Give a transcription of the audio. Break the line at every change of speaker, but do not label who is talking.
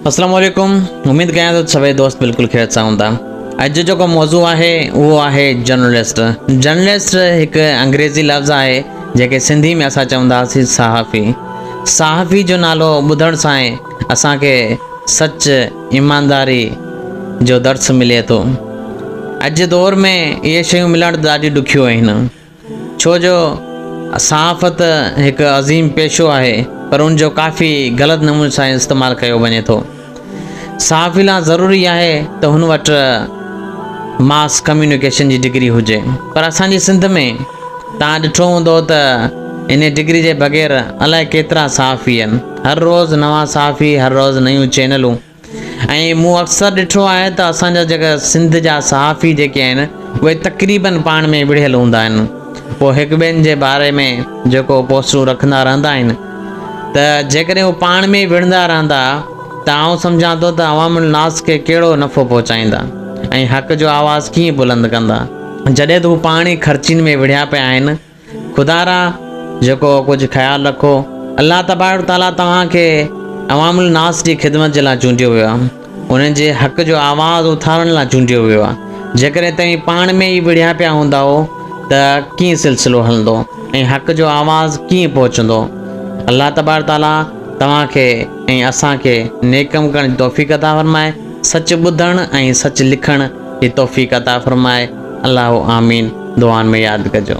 السلام عليڪم اميد ڪيان ٿو سڀئي دوست بلڪل خيرت سان هوندا اڄ جيڪو موضوع آهي اهو آهي جرنلسٽ جرنلسٽ هڪ انگريزي لفظ آهي جيڪي سنڌي ۾ اسان چونداسين صحافي صحافي جو نالو ٻڌڻ سان ئي اسان کي سچ ايمانداري جو درس ملي ٿو اڄ جي دور ۾ اهي شيون ملڻ ڏاڍي ڏکيو آهن ڇو جو صحافت هڪ عظيم پيشو آهي پر ان جو ڪافي غلط نموني سان استعمال ڪيو وڃي ٿو صحافي لا ضروري آهي ته هن وٽ ماس ڪميونيڪيشن جي ڊگري هجي پر اسان جي سنڌ ۾ تان ڏٺو هوندو ته ان ڊگري جي بغير الائي ڪيترا صحافي آهن هر روز نوان صحافي هر روز نيون چينلون ۽ مون اڪثر ڏٺو آهي ته اسان جا جيڪا سنڌ جا صحافي جيڪي آهن اهي تقريبن پاڻ ۾ وڙهيل هوندا آهن پوء هڪ ٻين جي باري ۾ جيڪو پوسٽون رکندا رهندا آهن ته جيڪڏهن هو پاڻ ۾ وڙهندا رهندا ته آئون سمجهان ٿو ته عوام الناس کي ڪهڙو نفعو پهچائيندا ۽ حق جو آواز ڪيئن بلند ڪندا جڏهن ته هو پاڻ ئي خرچين ۾ وڙهيا پيا آهن خدا را جيڪو ڪجهه خيال رکو، الله تبارڪ وتعاليٰ توهان کي عوام الناس جي خدمت جي لاء چونڊيو ويو آهي، انهن جي حق جو آواز اٿارڻ لاء چونڊيو ويو آهي، جيڪڏهن توهين پاڻ ۾ ئي وڙهيا پيا هوندائو ته ڪيئن سلسلو هلندو ۽ حق جو آواز ڪيئن پهچندو؟ الله تبارڪ وتعاليٰ توهان کي ۽ اسان کي نيڪ ڪم ڪرڻ جي توفيق عطا فرمائي، سچ ٻڌڻ ۽ سچ لکڻ جي توفيق عطا فرمائي. الله آمين دعائن ۾ ياد ڪجو.